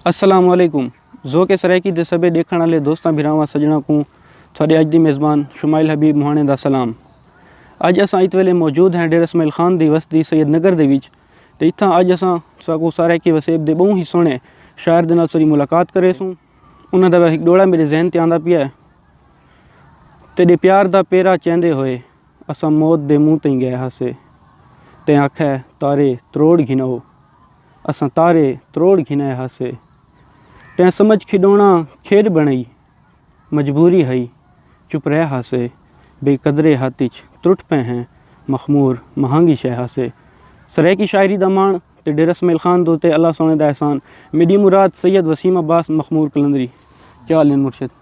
السلام علیکم ذوق سرائیکی دے سبے ڈیکھن والے دوستاں بھراواں سجنا کوں تھوڑے اج دی میزبان شمائل حبیب مہانے دا سلام اج اساں ات ویلے موجود ہیں ڈیر اسماعیل خان دی وستی سید نگر دے وچ تے اتھاں اج اساں ساکو سرائیکی وسیب دے بہوں ہی سونے شاعر دے نال سری ملاقات کرے سوں انہاں دا ہک ݙوہڑا میݙے ذہن تے آندا پیا ہے۔ تیݙے پیار دا پیرا چیندے ہوئے اساں موت دے منہ تئیں ڳئے ہاسے۔ تیں آکھے تارے تروڑ گھنؤ۔ اساں تارے تروڑ گھنئے ہاسے۔ تیں سمجھ کھیݙوݨا کھیݙ بݨائی۔ مجبوری ہئی چپ رہ ہاسے۔ بے قدرے ہتھ اچ ترٹ پئے ہیں مخمور مہانگی شے ہاسے۔ سرائیکی شاعری دا ماݨ تے ڈیرہ اسماعیل خان دو تے اللہ سونے دا احسان میڈی مراد سید وسیم عباس مخمور قلندری کیا حال ہن مرشد۔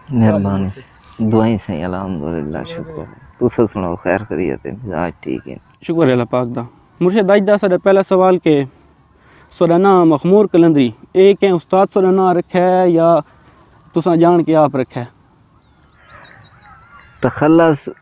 مہربانی سائیں دعائیں سائیں الحمدللہ شکر ہے تساں سناؤ خیر خیریت ہے مزاج ٹھیک ہن۔ شکر ہے اللہ پاک دا مرشد اج دا ساڈا پہلا سوال کہ سوڈا ناں مخمور قلندری اے کہیں استاد سوڈا ناں رکھیا ہے یا تساں جان کے آپ رکھیا ہے؟ تخلص۔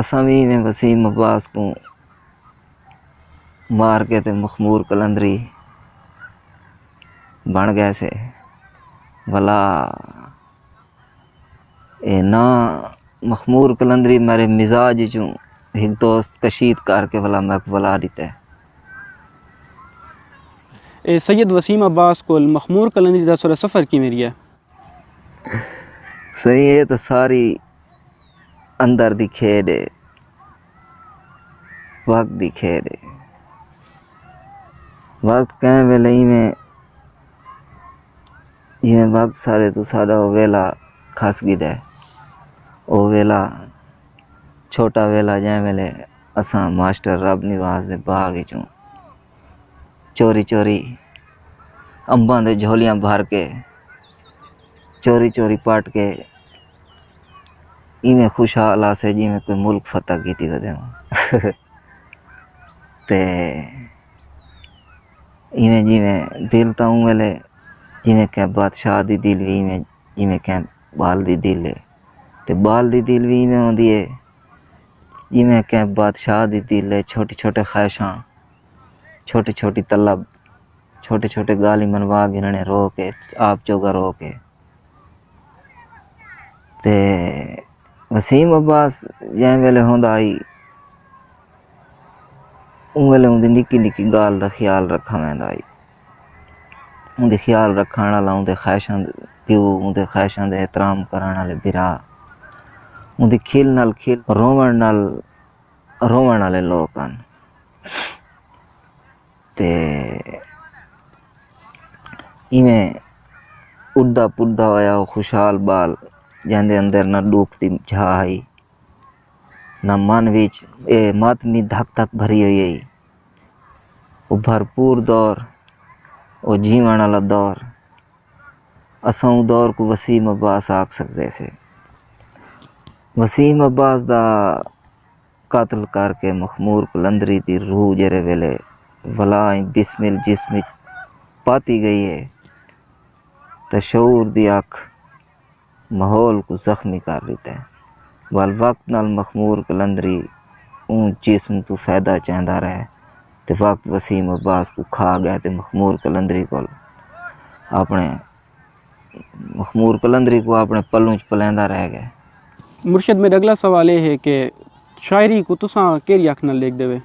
اساں وی ایویں وسیم عباس کوں مار کے تے مخمور قلندری بݨ ڳئے سے ولا اے نا مخمور قلندری میݙے مزاج چوں ہک دوست کشید کر کے ولا میک بلا ݙتے۔ اے سید وسیم عباس کول مخمور قلندری دا سر سفر کیویں ریہا؟ سئیں اے تاں ساری اندر دی کھیݙ ہے وقت دی کھیݙ ہے وقت کئیں ویلے ایویں جیویں وقت سارے توں سارا او ویلا کھس گھدا ہے او ویلا چھوٹا ویلا جئیں ویلے اساں ماسٹر رب نواز دے باغ وچوں چوری چوری امباں دے جھولیاں بھر کے چوری چوری پٹ کے ایویں خوشحال آسے جیویں کوئی ملک فتح کیتی ودے ہوں تے ایویں جیویں دل تاں اوں ویلے جیویں کہیں بادشاہ دی دل وی ایویں جیویں کہیں ٻال دی دل ہے تے ٻال دی دل وی ایویں ہوندی ہے جیویں کہیں بادشاہ دی دل ہے چھوٹی چھوٹی خواہشاں چھوٹی چھوٹی طلب چھوٹی چھوٹی گالھیں منوا گھننے رو کے آپ جوگا رو کے تے وسیم عباس جئیں ویلے ہوندا ہئی اوں ویلے اوندی نکی نکی ڳالھ دا خیال رکھا ویندا ہئی اوندی خیال رکھݨ آلا اوندے خواہشاں دے پیو اوندے خواہشاں دے احترام کرݨ آلے بھرا اوندی کھل نال کھل رووݨ نال رووݨ آلے لوک ہن تے ایویں اڈدا پڈدا ہویا او خوشحال بال جیندے اندر نہ ڈوکھ دی جھاء ہئی نہ من وچ اے ماتمی دھک دھک بھری ہوئی ہئی او بھرپور دور او جیوݨ آلا دور اساں اوں دور کوں وسیم عباس آکھ سڳدے سے وسیم عباس دا قتل کر کے مخمور قلندری دی روح جیرھے ویلے ولا ء بسمل جسم ءچ پاتی گئی ہے تاں شعور دی اکھ ماحول کوں زخمی کر ڈتا ہے ول وقت نال مخمور قلندری اوں جسم توں فیدہ چیندا رہ تے وقت وسیم عباس کوں کھا گئے تے مخمور قلندری کول اپنے مخمور قلندری کوں اپنے پلوں اچ پلیندا رہ گئے۔ مرشد میڈا اگلا سوال اے ہے کہ شاعری کوں تساں کیرھی اکھ نال ڈیکھدے وے؟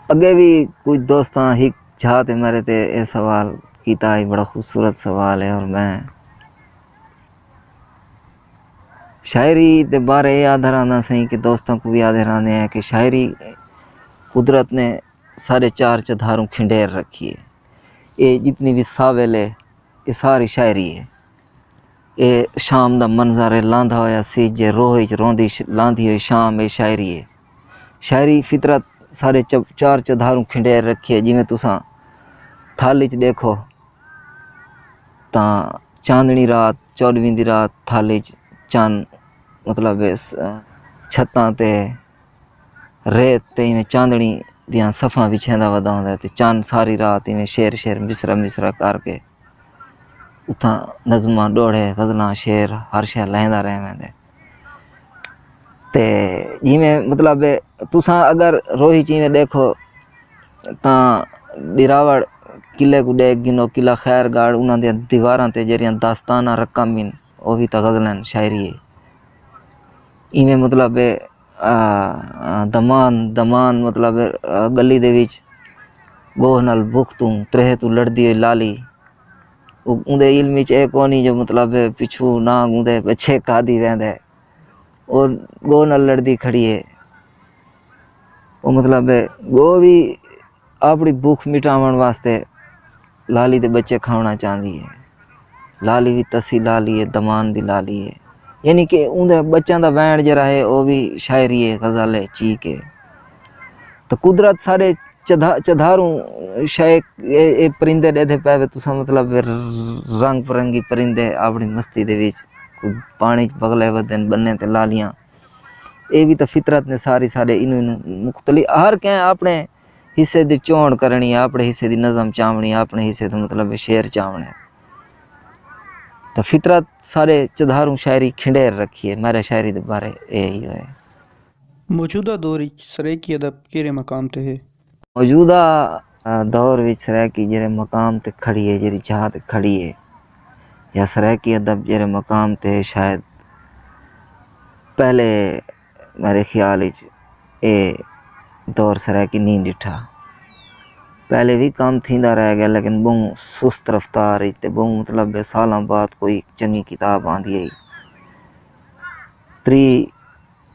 اگے وی کچھ دوستاں ہک جھا تے میڈے تے اے سوال کیتا ہئی بڑا خوبصورت سوال ہے اور میں شاعری دے بارے اے آدھا رہنا سئیں کہ دوستاں کوں وی آدھے رہنے ہیں کہ شاعری قدرت نے ساڈے چار چدھاروں کھنڈیر رکھی ہے۔ اے جتنی وی ساول اے اے ساری شاعری اے۔ اے شام دا منظر اے لاندا ہویا سی جے روہ اچ روندی لاندی ہوئی شام اے شاعری اے۔ شاعری فطرت سارے چار چوباروں کھنڈیر رکھیے جیویں تساں تھل اچ ݙیکھو تاں چاندݨی رات چوݙویں دی رات تھل اچ چن مطلب چھتاں تے۔ ریت تے ایویں چاندنی دیاں صفاں وچھیندا ودا ہوندا ہے تے چن ساری رات ایویں شعر شعر مصرعہ مصرعہ کر کے اتھاں نظماں ڈوہڑے غزلاں شعر ہر شے لہندا رہ ویندے تے جیویں مطلب ہے تساں اگر روہی چ ایویں ݙیکھو تاں ٻیراوڑ قلعے کوں ݙیکھ گھنو قلعہ خیر گڑھ انہاں دیاں دیواراں تے جیڑھیاں داستاناں رقم ہن او وی تاں غزل ہن شاعری ہے ایویں مطلب ہے دمان دمان مطلب گلی دے وچ ݙوہ نال بکھ توں تریہہ توں لڑدی ہوئی لالی اوندے علم وچ اے کونی جو مطلب پچھو نہ اوندے پچھے کا دی ویندا ہے او ݙوہ نال لڑدی کھڑی ہے او مطلب ݙوہ وی آپݨی بکھ مٹاوݨ واسطے لالی دے ٻچے کھاوݨا چاہندی ہے۔ لالی وی تسی لالی ہے، دمان دی لالی ہے۔ یعنی کہ اوندے ٻچیاں دا ویݨ جیرھا ہے او وی شاعری ہے، غزل ہے، چیک ہے۔ تاں قدرت سارے چدھا چدھاروں شے اے پرندے ݙیدھے پئے وے تساں مطلب رنگ برنگی پرندے آپݨی مستی دے وچ پاݨی بغلے ودن ٻنے تے لالیاں۔ اے وی تاں فطرت نے ساری سارے اینوں اینوں مختلف ہر کہیں اپنے حصے دی چونڑ کرنی ہے اپنے حصے دی نظم چاونڑی ہے اپنے حصے دا مطلب شعر چاونڑے ہے تاں فطرت سارے چدھاروں شاعری کھنڈیر رکھی ہے میرے شاعری دے بارے اے ہی ہوئے۔ موجودہ دور اچ سرائیکی ادب کیرھے مقام تے ہے؟ موجودہ دور وچ سرائیکی جیرھے مقام تے کھڑی ہے جیرھی جاہ تے کھڑی ہے یا سرائیکی ادب جیرھے مقام تے ہے شاید پہلے میرے خیال وچ اے دور سرائیکی نہیں ڈٹھا پہلے وی کام تھیندا رہ گیا لیکن بہوں سست رفتار وچ تے بہوں مطلب سالاں بعد کوئی چنگی کتاب آندی ہے تری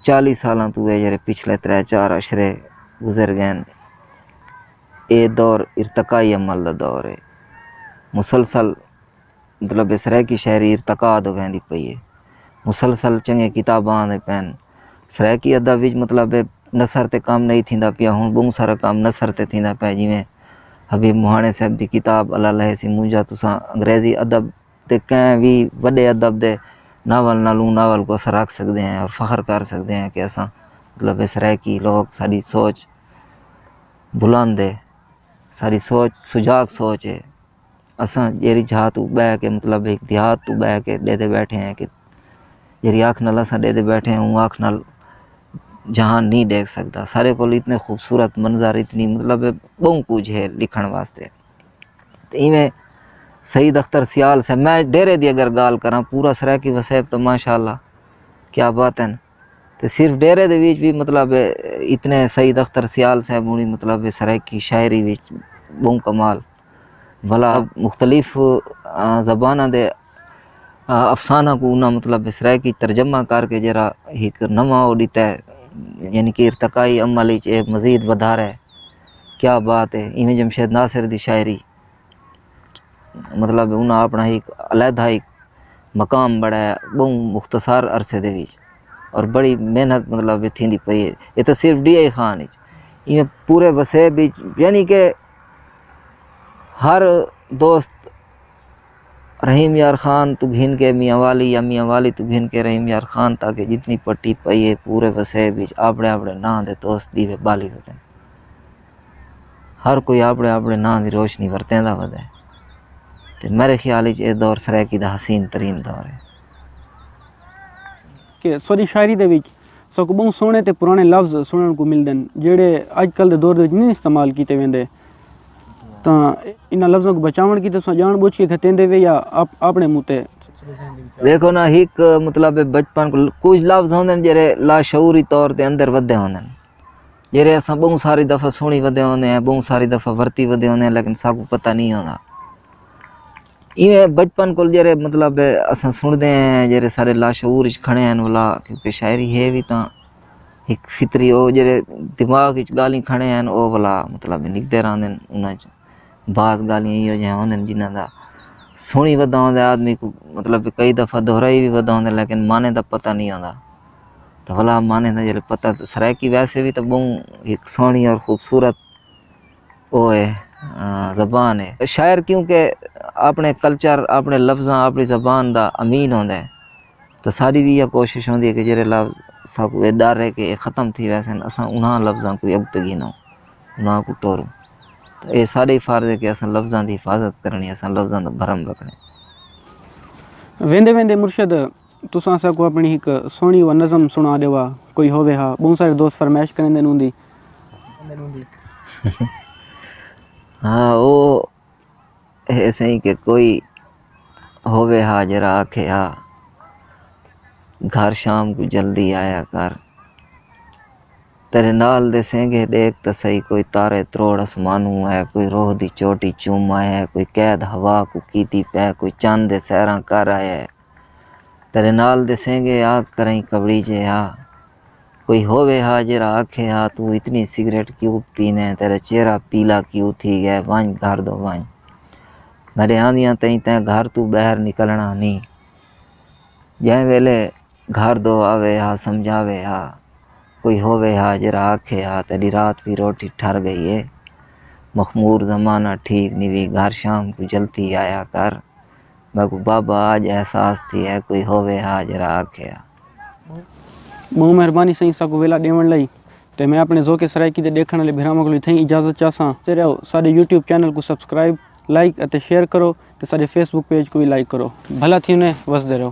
چالی سالاں توں ہے جیرے پچھلے ترے چار عشرے گزر گئن اے دور ارتقائی عمل دا دور ہے مسلسل مطلب اس رائیکی شاعری ارتقاء دو بہن دی پئی ہے مسلسل چنگے کتاباں آندے پین اس رائیکی ادب وچ مطلب نثر تے کام نہیں تھیندا پیا ہوں بہوں سارا کام نثر تے تھیندا پیا جیویں حبیب مہانے صاحب دی کتاب اللہ لہے سی مونجا تساں انگریزی ادب تے کہیں وی وݙے ادب دے ناول نالوں ناول کوں اساں رکھ سڳدے ہیں اور فخر کر سڳدے ہیں کہ اساں مطلب اے سرائیکی لوک ساݙی سوچ بلند ہے ساݙی سوچ سجاڳ سوچ ہے اساں جیڑھی جھا توں ٻہہ کے مطلب ہک دیہات توں ٻہہ کے ݙیہہ تے ٻیٹھے ہیں کہ جیڑھی اکھ نال اساں ݙیہہ تے ٻیٹھے ہیں اوں اکھ نال جہان نی ݙیکھ سڳدا سارے کولوں اتنے خوبصورت منظر اتنی مطلب ٻہوں کجھ ہے لکھݨ واسطے ایویں سعید اختر سیال صاحب میں ڈیرے دی اگر گال کراں پورا سرائیکی وسیب تو ماشاء اللہ کیا بات ہے تو صرف ڈیرے دے وچ بھی مطلب اتنے سعید اختر سیال صاحب ہونی مطلب سرائیکی شاعری وچ بہوں کمال بھلا مختلف زباناں دے افسانہ کو انہاں مطلب سرائیکی ترجمہ کر کے جرا ایک نواں اڈیتا ہے یعنی کہ ارتقائی عمل وچ ایک مزید ودھارا ہے کیا بات ہے ایویں جمشید ناصر دی شاعری مطلب انہاں اپݨا ہک علیحدہ ہک مقام بݨایا ٻہوں مختصر عرصے دے وچ اور بڑی محنت مطلب وچ تھیندی پئی ہے اے تاں صرف ݙینہہ ہی خان اچ ایویں پورے وسیب اچ یعنی کہ ہر دوست رحیم یار خان توں گھن کے میاں والی یا میاں والی توں گھن کے رحیم یار خان تاکہ جتنی پٹی پئی ہے پورے وسیب وچ آپڑے آپڑے ناں دے دوست دیوے بالی ودن۔ ہر کوئی آپڑے آپڑے ناں دی روشنی ورتیں دا ودے۔ تے میرے خیال وچ اے دور سرائیکی دا حسین ترین دور ہے۔ کہ سوڈی شاعری دے وچ ساکوں بہوں سوہنے تے پرانے لفظ سنڑن کوں ملدن جیہڑے اج کل دے دور دے وچ نی استعمال کیتے ویندے تاں انہاں لفظاں کوں بچاونڑ کیتے تساں جانڑ بوجھ کے گھتیندے وے یا آپنڑے منہ تے دیکھو نا ہک مطلب بچپن کوں کچھ لفظ ہوندن جیہڑے لاشعوری طور تے اندر ودھے ہوندن جیہڑے اساں بہوں ساری دفعہ سنڑی ودھے ہوندے ہیں بہوں ساری دفعہ ورتی ودھے ہوندے ہیں لیکن ساکوں پتہ نی ہوندا۔ ایویں بچپن کول جیرھے مطلب اساں سݨدے ہیں جیرھے سارے لاشعور اچ کھڑے ہیں ولا کیونکہ شاعری ہے وی تاں ہک فطری او جیرھے دماغ اچ ڳالھیں کھڑے ہیں او ولا مطلب نکدے رہندے ہن انہاں اچ بعض ڳالھیں ایہو جیہاں ہوندن جنہاں دا سݨی ودا ہوندا ہے آدمی کوں مطلب کئی دفعہ دہرائی وی ودا ہوندا ہے لیکن معنی دا پتہ نی ہوندا تاں ولا معنی دا جیرھے پتہ سرائیکی ویسے وی تاں ٻہوں ہک سوہݨی اور خوبصورت او ہے زبان ہے شاعر کیوں کہ اپنے کلچر اپنے لفظاں اپنی زبان دا امین ہوندے تو ساری وی ایہا کوشش ہوندی ہے کہ جیرھے لفظ ساکوں اے ڈر ہے کہ اے ختم تھی ویسن اساں انہاں لفظاں کوں اگتے گھنوں انہاں کوں ٹوروں تو اے ساڈا ہی فرض ہے کہ اساں لفظاں دی حفاظت کرنی اساں لفظاں دا بھرم رکھنے۔ ویندے ویندے مرشد۔ تساں اساں کوں اپݨی ہک سوہݨی و نظم سݨا ݙیوا کوئی ہووے ہا ٻہوں سارے دوست فرمائش کریندن اوندی۔ ہاں او ہے سئیں کہ کوئی ہووے ہا جیرھا آکھے ہا گھر شام کوں جلدی آیا کر تیݙے نال دے سینگے ݙیکھ تاں سہی کوئی تارے تروڑ اسمانوں ہے کوئی روح دی چوٹی چوم آیا ہے کوئی قید ہوا کوں کیتی پئے کوئی چن دے سیراں کر آیا ہے۔ تیݙے نال دے سینگے آ کرئیں کٻڑی چے ہا کوئی ہووے ہا جیرھا آکھے ہا توں اتنی سگریٹ کیوں پینے تیݙا چہرہ پیلا کیوں تھی ڳئے ونڄ گھر دو ونڄ میݙے آندیاں تئیں تیں گھر توں ٻاہر نکلݨا نی جئیں ویلے گھر دو آوے ہا سمجھاوے ہا کوئی ہووے ہا جیرھا آکھے ہا تیݙی رات وی روٹی ٹھر ڳئی اے مخمور زمانہ ٹھیک نی وی گھر شام کوں جلدی آیا کر۔ میکوں بابا آج احساس تھی ہے کوئی ہووے ہا جیرھا آکھیا۔ ٻہوں مہربانی سئیں اساکوں ویلا ݙیوݨ لئی تے میں آپݨے ذوق سرائیکی دے ݙیکھݨ آلے بھراواں کولوں اتھائیں اجازت چاساں۔ تے رہو ساݙے یوٹیوب چینل کوں سبسکرائب، لائیک اتے شیئر کرو تے ساݙے فیس بک پیج کوں وی لائیک کرو۔ بھلا تھیونے وسدے رہو۔